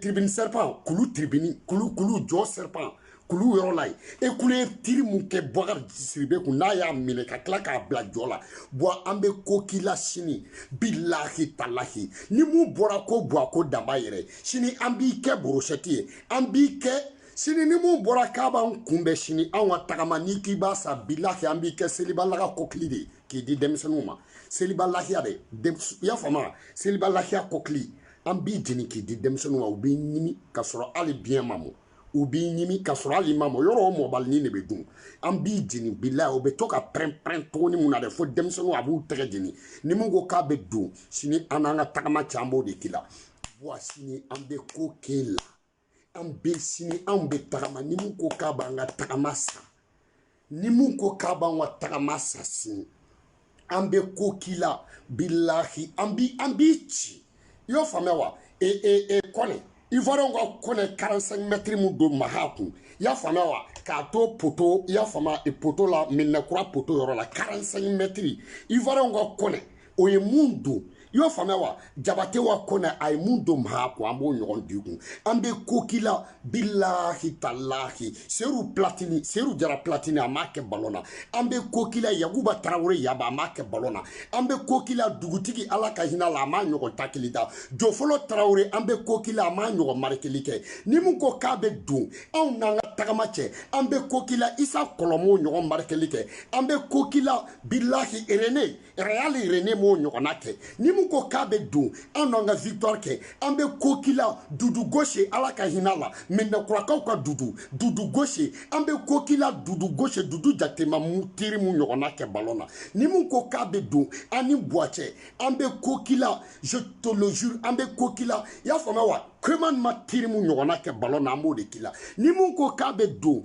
tribini sɛripan kulu tribini kulu kulu jɔ sɛripan kulu yɔrɔ la yen e kulu ye tiri mun kɛ bakari sidibe kun n'a y'a minɛ ka tila k'a bila jɔ la bɔn an bɛ ko k'i la sini bilahi talahi ni mun bɔra ko bɔ a ko danba yɛrɛ sini an b'i kɛ borosɛti ye an b'i kɛ sini ni mun bɔra k'a b'an kunbɛ sini anw ka tagama n'i k'i b'a sa bilahi an b'i kɛ seliba lahiya kɔkili de ye k'i di denmisɛnninw ma seliba lahiya de i y'a faamu wa seliba lahiya kɔkili an b'i jeni k'i di denmisɛnninw ma u b'i ɲimi ka sɔrɔ hali bi e ma mɔ u b'i ɲimi ka sɔrɔ hali i ma mɔ yɔrɔ o mɔbalinin de bɛ dun an b'i jeni bila o bɛ to ka pɛrɛn-pɛrɛn tuguni mun na dɛ fo denmisɛnninw a b'u tɛgɛ jeni ni mun ko k'a bɛ don sini an n'an ka tagama cɛ an b'o de k'i la wa sini an bɛ ko k'e la an bɛ sini anw bɛ tagama ni mun ko k'a b'an ka tagama sa ni mun ko k'a b'an ka tagama sa sini an bɛ ko k'i la bilahi an bi an b'i ci i y'o faamuya wa e e e kɔnɛ ivoiriyɛnw ka kɔnɛ 45 mɛtiri mun don maha kun i y'a faamuya wa k'a to poto i y'a faamuya e poto la medinakura poto yɔrɔ la 45 mɛtiri ivoiriyɛnw ka kɔnɛ o ye mun don i y'o faamuya wa jabate wa kɔnɛ a ye mun don maha kun an b'o ɲɔgɔn d'i kun an bɛ ko k'i la bilahi talahi sedu platini sedu jara platini a m'a kɛ balon na an bɛ ko k'i la yakuba tarawele yaba a m'a kɛ balon na an bɛ ko k'i la dugutigi ala ka hin'a la a m'a ɲɔgɔn takili da jofolo tarawele an bɛ ko k'i la a m'a ɲɔgɔn marikeli kɛ ni mun ko k'a bɛ don anw n'an ka tagama cɛ an bɛ ko k'i la isa kɔlɔ m'o ɲɔgɔn marikeli kɛ an bɛ ko k'i la bilahi e rene real rene m'o ɲɔgɔnna kɛ ni mu ko k'a bɛ don an n'an ka victoire cɛ an bɛ ko k'i la dudu gauche ala ka hin'a la medinakurakaw ka dudu dudu gauche an bɛ ko k'i la dudu gauche dudu jakite ma tiri mu ɲɔgɔnna kɛ balon na ni mu ko k'a bɛ don an ni buwa cɛ an bɛ ko k'i la je te le jure an bɛ ko k'i la i y'a faamuya wa koman ma tiri mu ɲɔgɔnna kɛ balon na an b'o de k'i la ni mu ko k'a bɛ don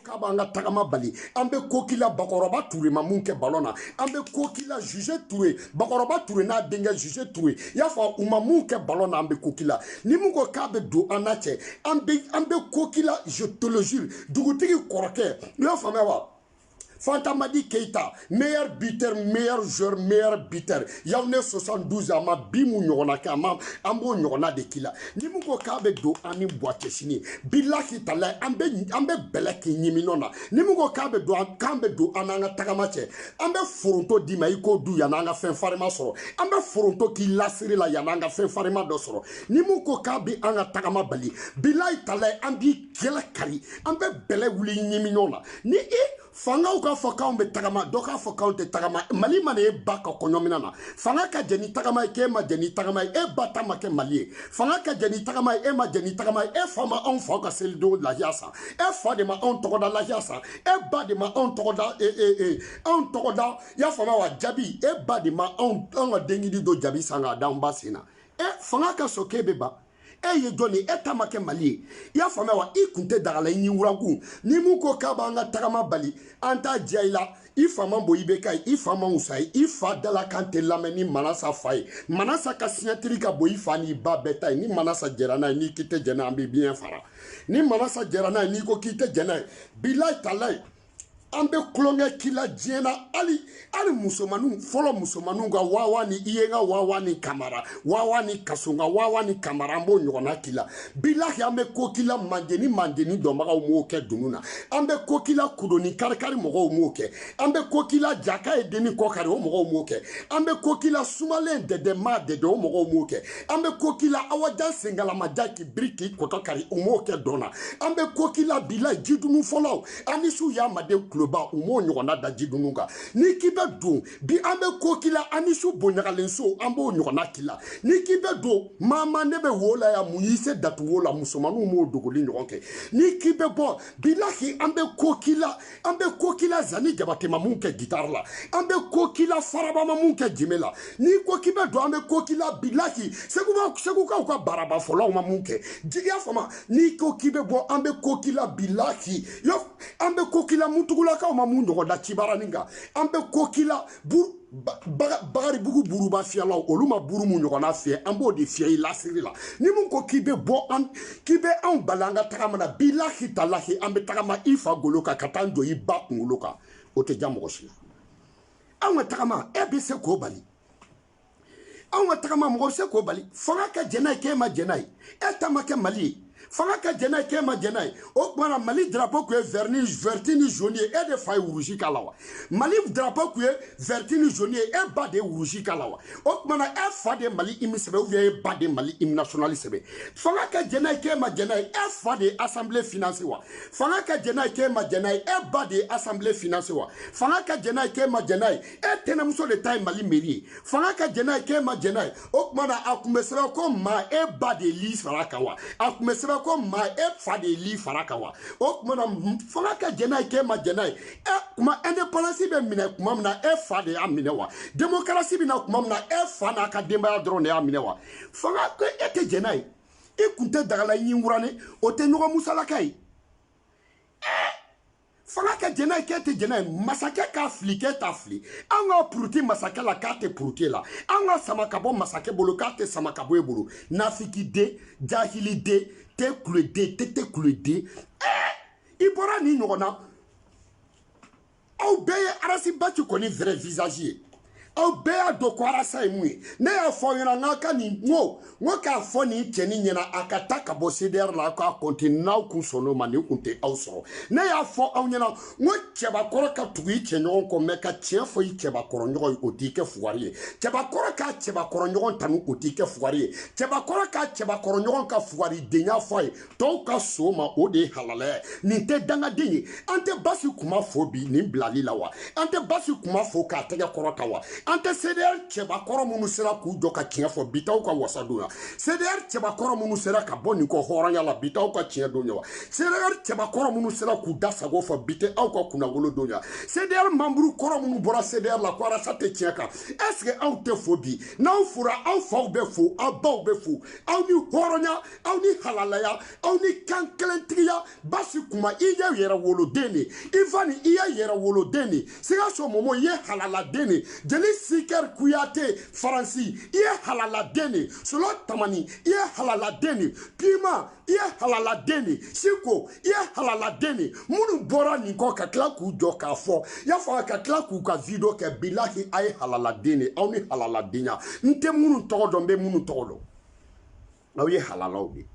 k'a b'an ka tagama bali an bɛ ko k'i la bakɔrɔba ture ma mun kɛ balon na an bɛ ko k'i la joze ture bakɔrɔba ture n'a denkɛ joze ture i y'a fɔ u ma mun kɛ balon na an bɛ ko k'i la ni mun ko k'a bɛ don an n'a cɛ an bɛ an bɛ ko k'i la je te le jure dugutigi kɔrɔkɛ i y'a faamuya wa fantamadi keyita meilleur buteur meilleur joueur meilleur buteur yawunde 72 a ma bi mu ɲɔgɔnna kɛ a ma an b'o ɲɔgɔnna de k'i la ni min ko k'a bɛ don an ni buwa cɛ sini bilahi talayi an bɛ an bɛ bɛlɛ k'i ɲimi nɔ na ni min ko k'a bɛ don an k'a bɛ don an n'an ka tagama cɛ an bɛ foronto d'i ma i k'o dun yanni an ka fɛn farima sɔrɔ an bɛ foronto k'i lasiri la yanni an ka fɛn farima dɔ sɔrɔ ni min ko k'a bɛ an ka tagama bali bilahi talayi an b'i kɛlɛ kari an bɛ bɛlɛ bil'i ɲimi nɔ na ni i fangaw k'a fɔ k'anw bɛ tagama dɔ k'a fɔ k'anw tɛ tagama mali ma na e ba ka kɔɲɔminɛn na fanga ka jɛ ni tagama ye k'e ma jɛ ni tagama ye e ba ta ma kɛ mali ye fanga ka jɛ ni tagama ye e ma jɛ ni tagama ye e fa ma anw faw ka selidon lahiya san e fa de ma anw tɔgɔda lahiya san e ba de ma anw tɔgɔda e, e, e, anw tɔgɔda y'a faamuya wa jabi e ba de ma anw anw ka denkundi don jabi san k'a d'anw ba sen na e fanga ka sɔn k'e bɛ ban e ye jɔn de ye e ta ma kɛ mali ye i y'a faamuya wa i kun tɛ dagala i ɲin wurakun ni mun ko k'a b'an ka tagama bali an t'a diya i la i fa man bon ibeka ye i fa man wus'a ye i fa dalakan tɛ lamɛn ni manasa fa ye manasa ka siɲɛtiri ka bon i fa n'i ba bɛɛ ta ye ni manasa jɛra n'a ye n'i k'i tɛ jɛ n'a ye an b'i ɲɛ fara ni manasa jɛra n'a ye n'i ko k'i tɛ jɛ n'a ye bilayi talayi an bɛ tulonkɛ k'i la diɲɛ na hali hali musomaninw fɔlɔ musomaninw ka wawa ni i ye n ka wawa ni kamara wawa ni kaso n ka wawa ni kamara an b'o ɲɔgɔnna k'i la bilahi an bɛ ko k'i la mandeni mandeni dɔnbagaw m'o kɛ dunun na an bɛ ko k'i la kudoni karikari mɔgɔw m'o kɛ an bɛ ko k'i la jaka ye deni kɔkari o mɔgɔw m'o kɛ an bɛ ko k'i la sumalen dɛdɛ maa dɛdɛ o mɔgɔw m'o kɛ an bɛ ko k'i la awajan sengalamaja k'i biri k'i kɔtɔ kari u m'o kɛ dɔn na an bɛ ko k'i la bilahi jidunun fɔlaw anisiw y'a maden kuloba u m'o ɲɔgɔnna da jidunun kan n'i k'i bɛ don bi an bɛ ko k'i la anisiw bonɲagalen so an b'o ɲɔgɔnna k'i la n'i k'i bɛ don maama ne bɛ wo la ya mun y'i se datu wo la musomaninw m'o dogoli ɲɔgɔn kɛ n'i k'i bɛ bɔ bilahi an bɛ ko k'i la an bɛ ko k'i la zani jabate ma mun kɛ gitari la an bɛ ko k'i la faraba ma mun kɛ jenbe la n'i ko k'i bɛ don an bɛ ko k'i la bilahi segukaw ka baraba fɔlaw ma mun kɛ jigiya fama n'i ko k'i bɛ bɔ an bɛ ko k'i la bilahi an bɛ ko k'i la mutugulakaw ma mun ɲɔgɔn da cibaranin kan an bɛ ko k'i la bakaribugu buruba fiyɛlaw olu ma buru mun ɲɔgɔnna fiyɛ an b'o de fiyɛ i lasiri la ni mun ko k'i bɛ bɔ an k'i bɛ anw bali an ka tagama na bilahi talahi an bɛ tagama i fa golo kan ka taa jɔ i ba kunkolo kan o tɛ ja mɔgɔ si la anw ka tagama e bɛ se k'o bali anw ka tagama mɔgɔ se k'o bali fanga ka jɛn n'a ye k'e ma jɛn n'a ye e ta ma kɛ mali ye fanga ka jɛn n'a ye k'e ma jɛn n'a ye o tuma na mali drapo tun ye vɛri ni vɛriti ni zoni ye e de fa ye wurusi k'a la wa mali drapo tun ye vɛriti ni zoni ye e ba de ye wurusi k'a la wa o tuma na e fa de ye mali hymne sɛbɛn ou bien e ba de ye mali hymne national sɛbɛn fanga ka jɛn n'a ye k'e ma jɛn n'a ye e fa de ye asanbile finanse wa fanga ka jɛn n'a ye k'e ma jɛn n'a ye e ba de ye asanbile finanse wa fanga ka jɛn n'a ye k'e ma jɛn n'a ye e tɛnɛmuso de ta ye mali meri ye fanga ka jɛn n'a ye k'e ma jɛn n'a ye o tuma na a tun bɛ sɛbɛn ko ma e ba de ye li fara a kan wa a tun bɛ sɛbɛn ko ma e fa de ye li fara a kan wa o tuma na fanga ka jɛn n'a ye k'e ma jɛn n'a ye e kuma indépendance bɛ minɛ kuma min na e fa de y'a minɛ wa démocratie bɛ na kuma min na e fa n'a ka denbaya dɔrɔn de y'a minɛ wa fanga ko e tɛ jɛn n'a ye i kun tɛ dagala ɲin wurane o tɛ ɲɔgɔn musalaka ye fanga kɛ jɛnɛ ye k'e tɛ jɛnɛ ye masakɛ k'a fili k'e t'a fili an ka puruti masakɛ la k'a tɛ puruti e la an ka sama ka bɔ masakɛ bolo k'a tɛ sama ka bɔ e bolo nafikiden jahiliden tɛ kuleden tɛ tɛ kuleden ɛɛ i bɔra nin ɲɔgɔn na aw bɛɛ ye arasibaci kɔni vrai visage ye aw bɛɛ y'a dɔn ko arasa ye mun ye ne y'a fɔ aw ɲɛna n k'a ka nin n ko n ko k'a fɔ nin cɛnin ɲɛna a ka taa ka bɔ cdr la aw k'a kɔnte n'aw kun sɔnn'o ma nin kun tɛ aw sɔrɔ ne y'a fɔ aw ɲɛna n ko cɛbakɔrɔ ka tugu i cɛɲɔgɔn kɔ mɛ ka tiɲɛ fɔ i cɛbakɔrɔɲɔgɔn ye o t'i kɛ fugari ye cɛbakɔrɔ k'a cɛbakɔrɔɲɔgɔn tanu o t'i kɛ fugari ye cɛbakɔrɔ k'a cɛbakɔrɔɲɔgɔn ka fugaridenya fɔ a ye tɔw ka so ma o de ye halalaya ye nin tɛ dangaden ye an tɛ basi kuma fo bi nin bilali la wa an tɛ basi kuma fo k'a tɛgɛ kɔrɔta wa an tɛ cdr cɛbakɔrɔ minnu sera k'u jɔ ka tiɲɛ fɔ bi t'aw ka wasa don ya cdr cɛbakɔrɔ minnu sera ka bɔ nin kɔ hɔrɔnya la bi t'aw ka tiɲɛ don ya wa cdr cɛbakɔrɔ minnu sera k'u da sago fɔ bi tɛ aw ka kunnagolo don ya cdr manburu kɔrɔ minnu bɔra cdr la ko arasa tɛ tiɲɛ kan ɛseke aw tɛ fo bi n'aw fora aw faw bɛ fo aw baw bɛ fo aw ni hɔrɔnya aw ni halalaya aw ni kankelentigiya basi kuma i ye yɛrɛwoloden de ivani i ye yɛrɛwoloden de sikaso momo i ye halaladen de jeli sikɛri kuyate faransi i ye halaladen de solo tamani i ye halaladen de pima i ye halaladen de siko i ye halaladen de minnu bɔra nin kɔ ka tila k'u jɔ k'a fɔ y'a fɔ ka tila k'u ka video kɛ bilahi a ye halaladen de aw ni halaladenya n tɛ minnu tɔgɔ dɔn n bɛ minnu tɔgɔ dɔn aw ye halalaw de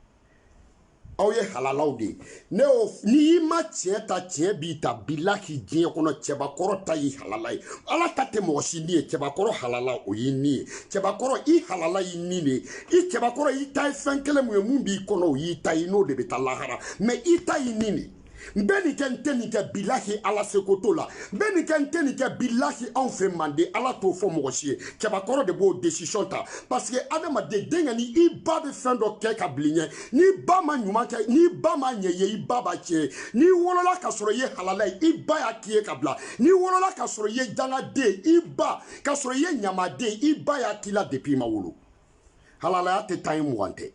aw ye halalaw de ne y'o n'i ma tiɲɛ ta tiɲɛ b'i ta bilahi diɲɛ kɔnɔ cɛbakɔrɔ ta y'i halala ye ala ta tɛ mɔgɔ si ni ye cɛbakɔrɔ halala o y'i ni ye cɛbakɔrɔ i halala y'i ni de ye i cɛbakɔrɔ i ta ye fɛn kelen mun ye mun b'i kɔnɔ o y'i ta ye n'o de bɛ taa lahara mɛ i ta y'i ni de ye n bɛ nin kɛ n tɛ nin kɛ bilahi ala seko t'o la n bɛ nin kɛ n tɛ nin kɛ bilahi anw fɛ manden ala t'o fɔ mɔgɔ si ye cɛbakɔrɔ de b'o desisiyɔn ta pasike adamaden denkɛnin i ba bɛ fɛn dɔ kɛ ka bil'i ɲɛ n'i ba ma ɲuman kɛ n'i ba ma ɲɛ i ye i ba b'a tiɲɛ ye n'i wolola k'a sɔrɔ i ye halala ye i ba y'a k'i ye ka bila n'i wolola k'a sɔrɔ i ye dangaden i ba k'a sɔrɔ i ye ɲamaden i ba y'a k'i la depi i ma wolo halalaya tɛ tan ye mugan tɛ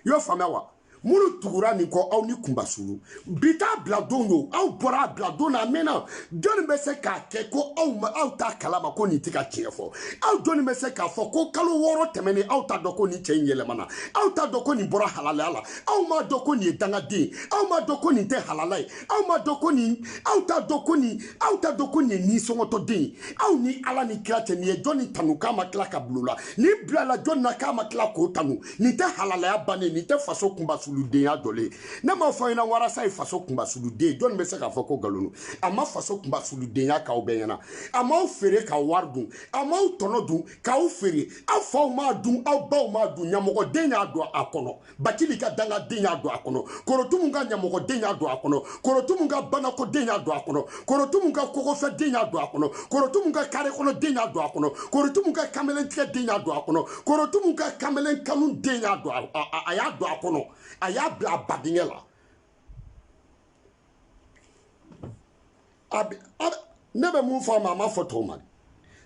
i y'o faamuya wa minnu tugura nin kɔ aw ni kunmasuli bi t'a bila don don aw bɔra a bila don na a mɛnna jɔnni bɛ se k'a kɛ ko aw ma aw t'a kalama ko nin tɛ ka tiɲɛ fɔ aw jɔnni bɛ se k'a fɔ ko kalo wɔɔrɔ tɛmɛnen aw t'a dɔn ko nin cɛ in yɛlɛmana aw t'a dɔn ko nin bɔra halalaya la aw m'a dɔn ko nin ye dangaden aw m'a dɔn ko nin tɛ halala ye aw m'a dɔn ko nin aw t'a dɔn ko nin aw t'a dɔn ko nin ye nisɔngɔtɔden ye aw ni ala ni kira cɛ nin ye jɔnni tanu k'a ma tila ka bila o la ni bilala jɔni na k'a ma tila k'o tanu nin tɛ halalaya bannen nin tɛ faso kunbasuludenya jɔlen ye ne m'a fɔ i ɲɛna wa arasa ye faso kunbasuluden jɔni bɛ se k'a fɔ ko nkalon a ma faso kunbasuludenya k'aw bɛɛ ɲɛna a m'aw feere ka wari dun a m'aw tɔnɔ dun k'aw feere aw faw m'a dun aw baw m'a dun ɲamɔgɔden y'a don a kɔnɔ batili ka dangaden y'a don a kɔnɔ korotumu ka ɲamɔgɔden y'a don a kɔnɔ korotumu ka banakoden y'a don a kɔnɔ korotumu ka kogofɛden y'a don a kɔnɔ korotumu ka kare kɔnɔden y'a don a kɔnɔ korotumu ka kamalen tigɛden y'a don a kɔnɔ korotumu ka kamalen kanu den y'a don a y'a don a kɔnɔ a y'a bila a bo dingɛ la ne bɛ mun fɔ a ma a ma fɔ tɔw ma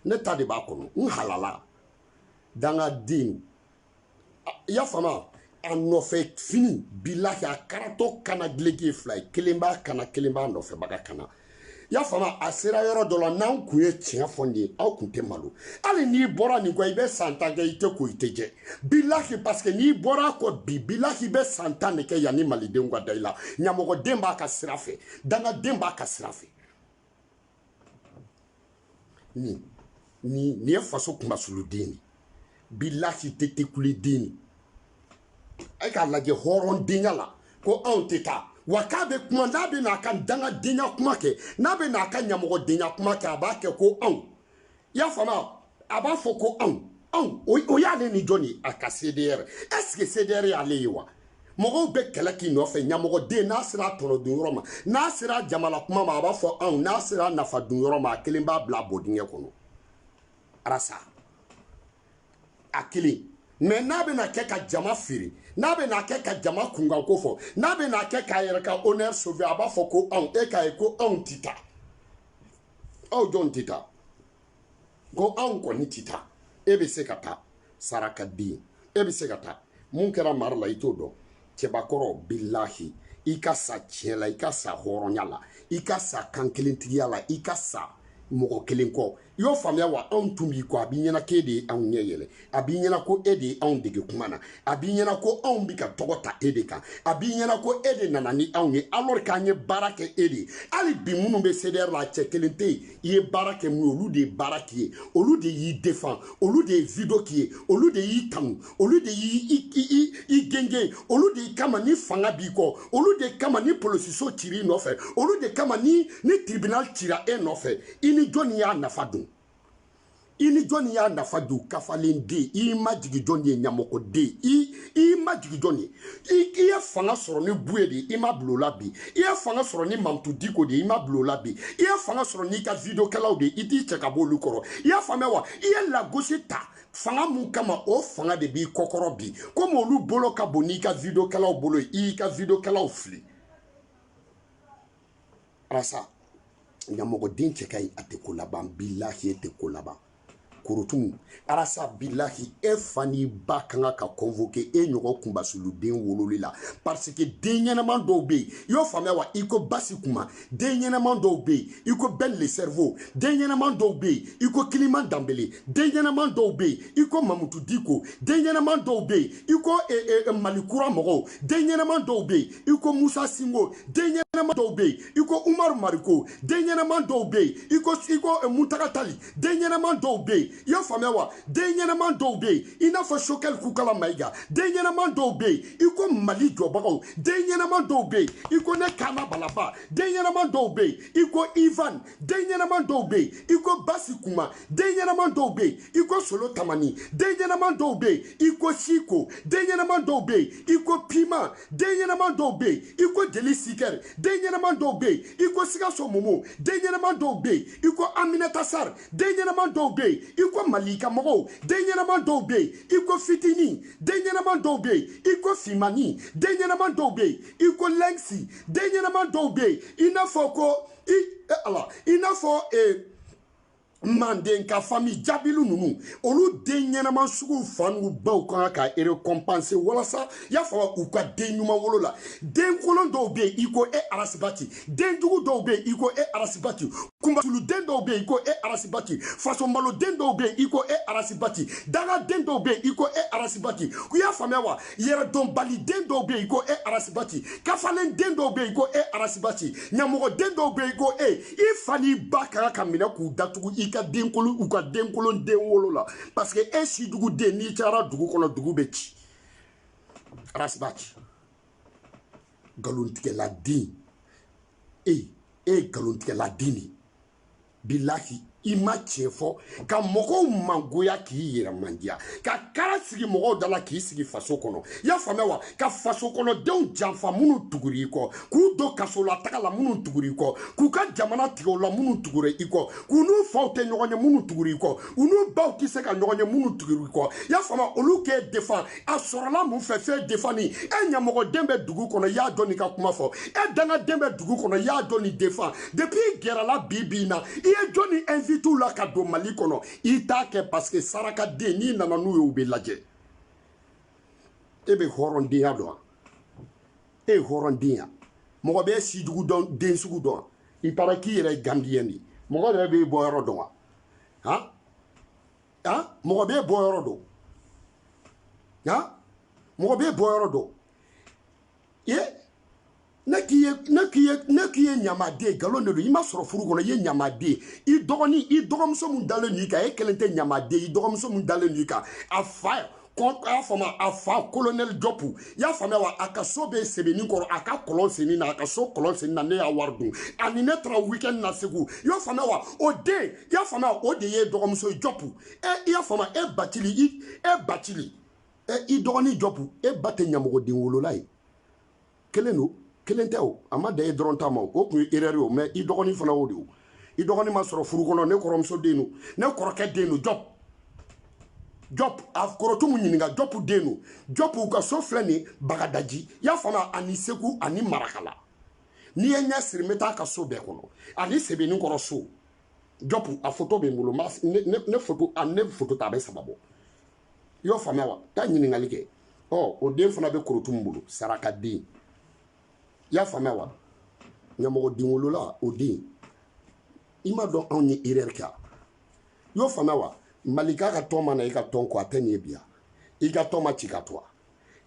ne ta de b'a kɔnɔ n halala dangaden i y'a faamu a nɔfɛ fini bilahi a karatɔ kan na dileki ye fila ye kelen b'a kan na kelen b'a nɔfɛbaga kan na i y'a faamu a sera yɔrɔ dɔ la n'an kun ye tiɲɛ fɔ nin ye aw kun tɛ malo hali n'i bɔra nin kɔ i bɛ san tan kɛ i tɛ ko i tɛ jɛ bilahi parce que n'i bɔra a kɔ bi bilahi i bɛ san tan de kɛ yanni malidenw ka da i la ɲamɔgɔden b'a ka sira fɛ dangaden b'a ka sira fɛ nin nin nin ye faso kunbasuluden de bilahi tɛ tekuliden de a ye k'a lajɛ hɔrɔndenya la ko anw tɛ taa wa k'a bɛ kuma n'a bɛ n'a ka dangadenya kuma kɛ n'a bɛ n'a ka ɲamɔgɔdenya kuma kɛ a b'a kɛ ko anw i y'a faamuya a b'a fɔ ko anw anw o y'ale ni jɔn ye a ka cdr est ce que cdr y'ale ye wa mɔgɔw bɛ kɛlɛ k'i nɔfɛ ɲamɔgɔden n'a sera a tɔnɔ dun yɔrɔ ma n'a sera jamana kuma ma a b'a fɔ anw n'a sera nafa dun yɔrɔ ma a kelen b'a bila a bo dingɛ kɔnɔ arasa a kelen mais n'a bɛna kɛ ka jama feere n'a bɛna kɛ ka jama kunkan ko fɔ n'a bɛna kɛ k'a yɛrɛ ka honneur sauver a b'a fɔ ko anw e k'a ye ko anw ti taa aw jɔn tɛ taa ko anw kɔni tɛ taa e bɛ se ka taa saraka den e bɛ se ka taa mun kɛra mari la i t'o dɔn cɛbakɔrɔ bilahi i ka sa tiɲɛ la i ka sa hɔrɔnya la i ka sa kankelentigiya la i ka sa mɔgɔ kelen kɔ i y'o faamuya wa anw tun b'i kɔ a b'i ɲɛna k'e de ye anw ɲɛ yɛlɛ a b'i ɲɛna ko e de ye anw dege kuma na a b'i ɲɛna ko anw bi ka tɔgɔ ta e de kan a b'i ɲɛna ko e de nana ni anw ye alors k'an ye baara kɛ e de ye hali bi minnu bɛ cdr la a cɛ kelen tɛ yen i ye baara kɛ min ye olu de ye baara k'i ye olu de y'i defan olu de ye video k'i ye olu de y'i tanu olu de y'i gengen olu de kama ni fanga b'i kɔ olu de kama ni polosiso cira i nɔfɛ olu de kama ni ni tribunal cira e nɔfɛ i ni jɔni y'a nafa dun i ni jɔnni y'a nafa dun kafalen den i ma jigi jɔn de ye ɲamɔgɔ den i i ma jigi jɔn de ye i ye fanga sɔrɔ ni buye de i ma bila o la bi i ye fanga sɔrɔ ni mamutu diko de i ma bila o la bi i ye fanga sɔrɔ n'i ka videokɛlaw de i t'i cɛ ka bɔ olu kɔrɔ i y'a faamuya wa i ye lagosi ta fanga mun kama o fanga de b'i kɔkɔrɔ bi komi olu bolo ka bon n'i ka videokɛlaw bolo ye i y'i ka videokɛlaw fili arasa ɲamɔgɔden cɛ ka ɲi a tɛ ko laban bilahi e tɛ ko laban korotumu arasa bilahi e fa n'i ba kan ka ka convoke e ɲɔgɔn kunbasuluden wololi la parce que den ɲɛnaman dɔw bɛ yen i y'o faamuya wa i ko basi kuma den ɲɛnaman dɔw bɛ yen i ko ben le cerveau den ɲɛnaman dɔw bɛ yen i ko kiliman danbele den ɲɛnaman dɔw bɛ yen i ko mamutu diko den ɲɛnaman dɔw bɛ yen i ko eh, eh, eh, mali kura mɔgɔw den ɲɛnaman dɔw bɛ yen i ko musa sinko den ɲɛnama dɔw bɛ yen i ko umaru mariko den ɲɛnama dɔw bɛ yen i ko i ko eh, muntaga tali den ɲɛnama dɔw bɛ yen i y'a faamuya wa den ɲɛnama dɔw bɛ yen i n'a fɔ sogɛli kokala mayiga den ɲɛnama dɔw bɛ yen i ko mali jɔbagaw den ɲɛnama dɔw bɛ yen i ko ne kaana balaba den ɲɛnama dɔw bɛ yen i ko ivan den ɲɛnaman dɔw bɛ yen i ko basi kuma den ɲɛnaman dɔw bɛ yen i ko solo tamani den ɲɛnaman dɔw bɛ yen i ko siko den ɲɛnaman dɔw bɛ yen i ko piman den ɲɛnaman dɔw bɛ yen i ko jeli sikɛri den ɲɛnaman dɔw bɛ yen i ko sikaso momo den ɲɛnaman dɔw bɛ yen i ko aminata sari den ɲɛnaman dɔw bɛ yen i ko malika mɔgɔw den ɲɛnaman dɔw bɛ yen i ko fitini den ɲɛnaman dɔw bɛ yen i ko fimani den ɲɛnaman dɔw bɛ yen i ko lɛngisi den ɲɛnaman dɔw bɛ yen i n'a fɔ ko i e ala i n'a fɔ ee manden ka fami jabilu ninnu olu den ɲɛnama suguw fa n'u baw kan ka ka erekonpanse walasa y'a faamu u ka den ɲuman wolo la den kolon dɔw bɛ yen i ko e arasibati den jugu dɔw bɛ yen i ko e arasibati kunbasuluden dɔw bɛ yen i ko e arasibati fasomaloden dɔw bɛ yen i ko e arasibati dangaden dɔw bɛ yen i ko e arasibati i y'a faamuya wa yɛrɛdɔnbaliden dɔw bɛ yen ko e arasibati kafalen den dɔw bɛ yen ko e arasibati ɲamɔgɔden dɔw bɛ yen ko e i fa n'i ba ka kan ka minɛ k'u datugu i ka denkolon u ka denkolon den wolo la parce que e si dugu den n'i cayara dugu kɔnɔ dugu bɛ ci arasibati nkalontigɛladen e e ye nkalontigɛladen de ye bilahi i ma tiɲɛ fɔ ka mɔgɔw mangoya k'i yɛrɛ mandiya ka kara sigi mɔgɔw da la k'i sigi faso kɔnɔ i y'a faamuya wa ka faso kɔnɔdenw janfa minnu tugura i kɔ k'u don kasolataga la minnu tugura i kɔ k'u ka jamana tigɛ u la minnu tugura i kɔ k'u n'u faw tɛ ɲɔgɔn ye minnu tugura i kɔ u n'u baw tɛ se ka ɲɔgɔn ye minnu tugura i kɔ i y'a faamuya olu k'e defan a sɔrɔla mun fɛ fɛn defan ni e ɲamɔgɔden bɛ dugu kɔnɔ i ye jɔni ka kuma fɔ e dangaden bɛ dugu kɔnɔ i ye jɔni defan depuis i gɛrɛla bi bi in na i ye jɔni invite la ka don mali kɔnɔ i t'a kɛ parce que sarakaden n'i nana n'u ye u bɛ lajɛ e bɛ hɔrɔndenya dɔn e ye hɔrɔnden ya mɔgɔ bɛ si jugu dɔn den sugu dɔn i taara k'i yɛrɛ ye gambiyɛn de ye mɔgɔ yɛrɛ b'e bɔ yɔrɔ dɔn wa han ha mɔgɔ b'e bɔ yɔrɔ dɔn ha mɔgɔ b'e bɔ yɔrɔ dɔn ye ne k'i ye ne k'i ye ne k'i ye ɲamaden nkalon de don i ma sɔrɔ furu kɔnɔ i ye ɲamaden i dɔgɔnin i dɔgɔmuso min dalen don i kan e kelen tɛ ɲamaden i dɔgɔmuso min dalen don i kan a fa y'a faamu a fa kolonɛli jɔpu y'a faamuya wa a ka so bɛ sebeninkɔrɔ a ka kɔlɔn senni na a ka so kɔlɔn senni na ne y'a wari dun ani ne taara weekend na segu i y'a faamuya wa o den i y'a faamuya o de y'e dɔgɔmuso jɔpu ɛ i y'a faamuya e batili i e batili ɛ i dɔgɔnin jɔpu e ba tɛ ɲamɔgɔden wolola ye kelen don kelen tɛ o a ma dan e dɔrɔn ta ma o tun ye erreur ye o mais i dɔgɔnin fana o de o i dɔgɔnin ma sɔrɔ furu kɔnɔ ne kɔrɔmuso den don ne kɔrɔkɛ den don jɔp jɔp a korotumu ɲininka jɔpu den don jɔp u ka so filɛ nin bagadaji i y'a faamuya ani segu ani marakala n'i ye n ɲɛ siri n bɛ taa ka so bɛɛ kɔnɔ ani sebeninkɔrɔ so jɔpu a foto bɛ n bolo ne foto a ne foto ta a bɛ saba bɔ i y'o faamuya wa taa ɲininkali kɛ ɔ o den fana bɛ korotumu bolo sarakaden i y'a faamuya wa ɲamɔgɔden wolola o den i ma dɔn anw ye erreur kɛ a i y'o faamuya wa malika ka tɔn ma na i ka tɔn ko a tɛ nin ye bi a i ka tɔn ma ci ka to a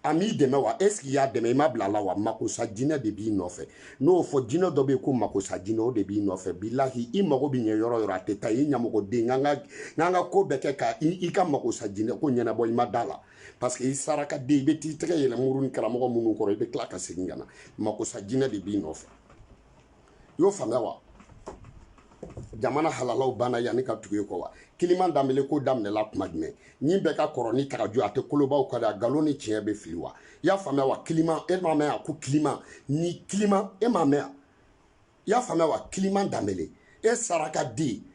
a m'i dɛmɛ wa est ce qu'i y'a dɛmɛ i ma bila la wa makosa jinɛ de b'i nɔfɛ n y'o fɔ jinɛ dɔ bɛ ko makosa jinɛ o de b'i nɔfɛ bilahi i mago bɛ ɲɛ yɔrɔ o yɔrɔ a tɛ taa i ɲamɔgɔden ka kan ka ko bɛɛ kɛ ka i ka makosa jinɛ ko ɲɛnabɔ i ma d'a la parce que i sarakaden i bɛ t'i tɛgɛ yɛlɛ mori ni karamɔgɔ minnu kɔrɔ i bɛ tila ka segin ka na makosa jinɛ de b'i nɔfɛ i y'o faamuya wa jamana halalaw banna yanni ka tugu e kɔ wa kiliman danbele ko daminɛla kuma jumɛn nin bɛɛ ka kɔrɔ ni tagaju a tɛ kolobaw ka da nkalon ni tiɲɛ bɛ fili wa i y'a faamuya wa kiliman e m'a mɛn a ko kiliman ni kiliman e m'a mɛn a i y'a faamuya wa kiliman danbele e sarakaden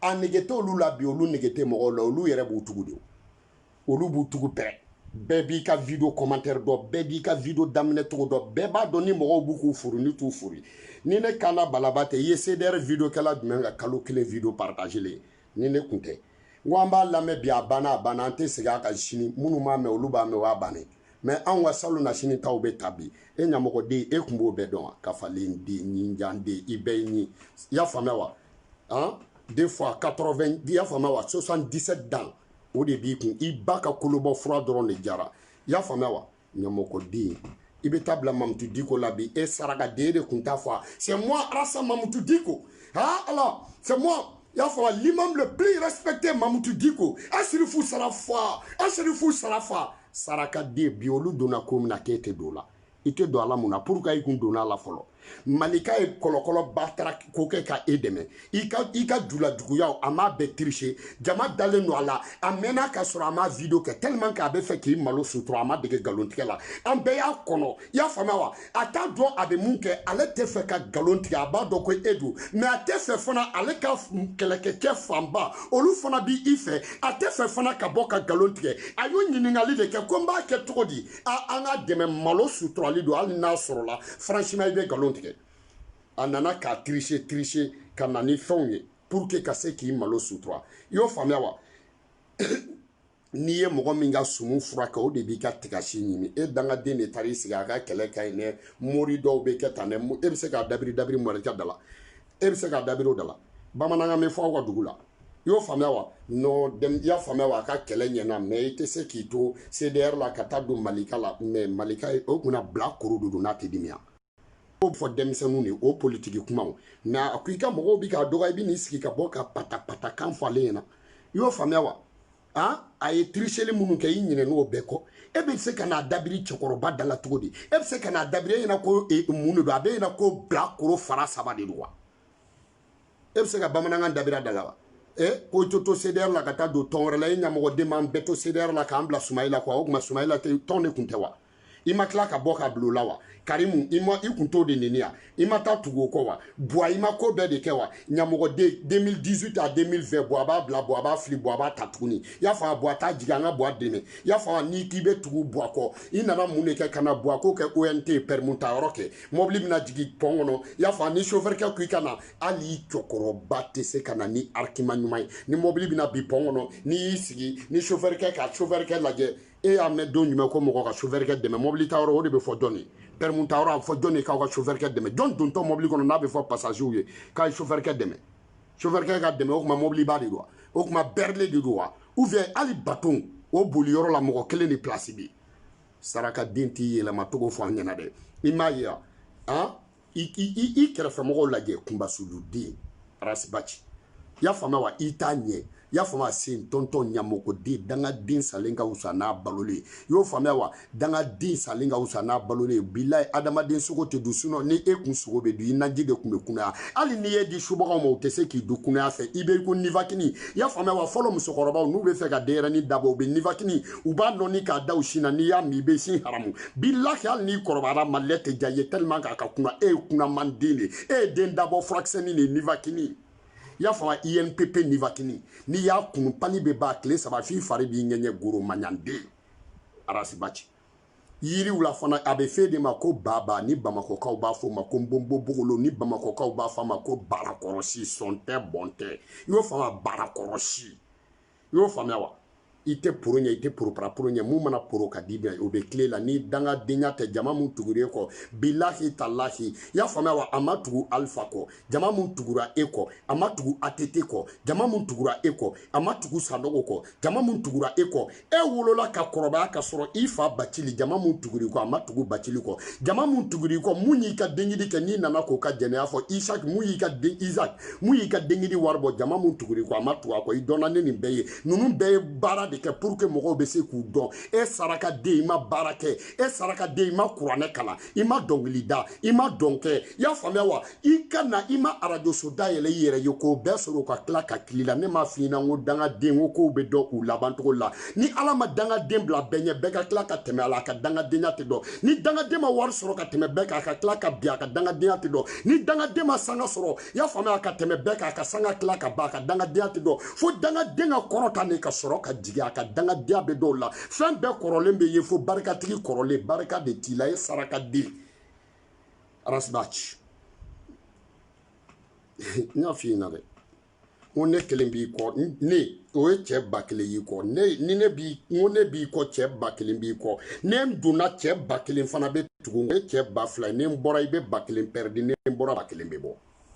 a nege tɛ olu la bi olu nege tɛ mɔgɔw la olu yɛrɛ b'u tugu de olu b'u tugu bɛɛ bɛɛ b'i ka video commentaire dɔn bɛɛ b'i ka video daminɛ cogo dɔn bɛɛ b'a dɔn ni mɔgɔw b'u k'u furu ni t'u furu ni ne kana balaba tɛ i ye cdr video kɛla jumɛn ka kalo kelen video partagelen ni ne kun tɛ n ko an b'a lamɛn bi a banna a banna an tɛ segin a kan sini minnu m'a mɛn olu b'a mɛn o y'a bannen ye anw ka salo na sini taw bɛ ta bi e ɲamɔgɔden e kun b'o bɛɛ dɔn wa kafalen den ɲinjan den i bɛɛ ye nin i y'a faamuya wa an de fois 80 i y'a faamuya wa 77 dan o de b'i kun i ba ka kolobɔ fura dɔrɔn de jara i y'a faamuya wa ɲamɔgɔden i bɛ taa bila mamutu diko la bi e sarakaden de kun t'a fɔ a c'est moi arasa mamutu diko ha ala c'est moi i y'a faamuya l'imam le plus respecté mamutu diko asirifu sarafa asirifu sarafa sarakaden bi olu donna ko min na k'e tɛ don o la i tɛ don a la mun na pourquoi i kun donna a la fɔlɔ malika ye kɔlɔkɔlɔ bataara ko kɛ ka e dɛmɛ i ka i ka julajuguyaw a m'a bɛɛ tricher jama dalen don a la a mɛnna ka sɔrɔ a m'a video kɛ tellement que a bɛ fɛ k'i malo sutura a ma dege galon tigɛ la an bɛɛ y'a kɔnɔ i y'a faamuya wa a t'a dɔn a bɛ mun kɛ ale tɛ fɛ ka galon tigɛ a b'a dɔn ko e don mais a tɛ fɛ fana ale ka kɛlɛkɛcɛ fanba olu fana bi i fɛ a tɛ fɛ fana ka bɔ ka galon tigɛ a y'o ɲininkali de kɛ ko n b'a kɛ cogo di an ka dɛmɛ malo suturali don hali n'a sɔrɔla franchement i bɛ nkalon tigɛ a nana k'a tricher tricher ka na ni fɛnw ye pour que ka se k'i malo sutura i y'o faamuya wa n'i ye mɔgɔ min ka sumu furakɛ o de b'i ka tigasi ɲimi e dangaden de taara i sigi a ka kɛlɛ ka ɲi dɛ mori dɔw bɛ kɛ tan dɛ e bɛ se k'a dabiri dabiri mɔrikɛ da la e bɛ se k'a dabiri o da la bamanankan bɛ fɔ aw ka dugu la i y'o faamuya wa non dem i y'a faamuya wa a ka kɛlɛ ɲɛna mais i tɛ se k'i to CDR la ka taa don Malika la mais Malika o kunna bilakoro de don n'a tɛ dimiya o fɔ denmisɛnninw de o politiki kumaw mais a ko i ka mɔgɔw bi k'a dɔgɔ i bi n'i sigi ka bɔ ka patapatakan fɔ ale ɲɛna i y'o faamuya wa han a ye tiriseli minnu kɛ i ɲinɛ n'o bɛɛ kɔ e bɛ se ka n'a dabiri cɛkɔrɔba da la cogo di e bɛ se ka n'a dabiri e ɲɛna ko e, mun de don a b'e ɲɛna ko bilakoro fara saba de don wa e bɛ se ka bamanankan dabiri da la wa e ko to to CDR la ka taa don tɔn wɛrɛ la e ɲamɔgɔden b'an bɛɛ to CDR la k'an bila Sumayila kɔ o tuma Sumayila tɔn de tun tɛ wa i ma tila ka bɔ ka bila o la wa karimu i ma i kun t'o de neni yan i ma taa tugu o kɔ wa buwa i ma ko bɛɛ de kɛ wa ɲamɔgɔden 2018 à 2020 buwa b'a bila buwa b'a fili buwa b'a ta tuguni y'a fɔ a buwa t'a jigin an ka buwa dɛmɛ y'a fɔ n'i k'i bɛ tugu buwa kɔ i nana mun de kɛ ka na buwa ko kɛ ONT permis ta yɔrɔ kɛ mɔbili bɛna jigin pɔn kɔnɔ i y'a fɔ ni sofɛrikɛ ko i ka na hali i cɛkɔrɔba tɛ se ka na ni argument ɲuman ye ni mɔbili bɛna bin pɔn kɔnɔ n'i y'i sigi ni sofɛrikɛ ka sofɛrikɛ lajɛ e y'a mɛn don jumɛn ko mɔgɔ ka sofɛrikɛ dɛmɛ mɔbili ta yɔrɔ o de bɛ fɔ jɔn ye permis ta yɔrɔ a bɛ fɔ jɔn ye k'aw ka sofɛrikɛ dɛmɛ jɔn dontɔ mɔbili kɔnɔ n'a bɛ fɔ pasazew ye k'a ye sofɛrikɛ dɛmɛ sofɛrikɛ ka dɛmɛ o tuma mɔbiliba de don wa o tuma berliet de don wa ou bien hali baton o boli yɔrɔ la mɔgɔ kelen de pilasi bɛ yen saraka den t'i yɛlɛma tɔgɔ fɔ an ɲɛna dɛ i m'a ye a ah, i kɛrɛfɛmɔgɔw lajɛ kunbasuluden arasibaci y'a faamuya wa i t'a ɲɛ y'a faamuya sen tɔntɔn ɲamɔgɔden dangaden salen ka wusa n'a balolen y'o faamuya wa dangaden salen ka wusa n'a balolen bilayi adamaden sogo tɛ dun sinon ni e kun sogo bɛ dun i naji de tun bɛ kunaya hali n'i y'e di subagaw ma u tɛ se k'i dun kunaya fɛ i bɛ ko nivakini y'a faamuya wa fɔlɔ musokɔrɔbaw n'u bɛ fɛ ka denyɛrɛni dabɔ u bɛ nivakini u b'a nɔni k'a da u sin na n'i y'a min i bɛ sin haramu bilahi hali n'i kɔrɔbayara malilɛ tɛ diya i ye tellement k'a ka kunan e ye kunaman den de ye e ye den dabɔ furakisɛni de ye nivakini i y'a faamu INPP nivakini n'i y'a kunu palu bɛ ban tile saba f'i fari b'i ŋɛɲɛ goro maɲanden arasibaci yiriw la fana a bɛ f'e de ma ko baba ni bamakɔkaw b'a fɔ a ma ko nbonbo bogolo ni bamakɔkaw b'a fɔ a ma ko barakɔrɔsi sɔn tɛ bɔn tɛ i y'o faamu barakɔrɔsi i y'o faamuya wa i tɛ poro ɲɛ i tɛ poroparapororo ɲɛ mun mana poro ka di bɛn o bɛ tile la ni dangadenya tɛ jama mun tugura e kɔ bilahi talahi i y'a faamuya wa a ma tugu alifa kɔ jama mun tugura e kɔ a ma tugu atete kɔ jama mun tugura e kɔ a ma tugu sandogo kɔ jama mun tugura e kɔ e wolola ka kɔrɔbaya ka sɔrɔ i fa bacili jama mun tugur'i kɔ a ma tugu bacili kɔ jama mun tugur'i kɔ mun y'i ka denkundi kɛ n'i nana k'o ka jɛnɛya fɔ isaki mun y'i ka den isaki mun y'i ka denkundi wari bɔ jama mun tugur'i kɔ a ma tugu a kɔ i dɔnna ni nin bɛɛ ye ninnu bɛɛ ye baara de kɛ pour que mɔgɔw bɛ se k'u dɔn e saraka den i ma baara kɛ e saraka den i ma kuranɛ kalan i ma dɔnkili da i ma dɔn kɛ i y'a faamuya wa i ka na i ma arajoso dayɛlɛ i yɛrɛ ye k'o bɛɛ sɔrɔ ka tila ka kili la ne m'a f'i ɲɛna n ko dangaden ko kow bɛ dɔn u laban cogo la ni ala ma dangaden bila bɛɛ ɲɛ bɛɛ ka tila ka tɛmɛ a la a ka dangadenya tɛ dɔn ni dangaden ma wari sɔrɔ ka tɛmɛ bɛɛ kan a ka tila ka bin a ka dangadenya tɛ dɔn ni dangaden ma sanga sɔrɔ i y'a faamuya ka tɛmɛ bɛɛ kan a ka sanga tila ka ban a ka dangadenya tɛ dɔn fo dangaden ka kɔrɔta ni ka sɔrɔ ka jigin a ka dangadenya bɛ dɔn o la fɛn bɛɛ kɔrɔlen bɛ ye fo barikatigi kɔrɔlen barika de t'i la e sarakaden arasibaci n y'a f'i ɲɛna dɛ ko ne kelen b'i kɔ ne o ye cɛ ba kelen y'i kɔ ne ni ne b'i kɔ ne b'i kɔ cɛ ba kelen b'i kɔ ni n donna cɛ ba kelen fana bɛ tugu o ye cɛ ba fila ni n bɔra i bɛ ba kelen pɛridi ni n bɔra ba kelen bɛ bɔ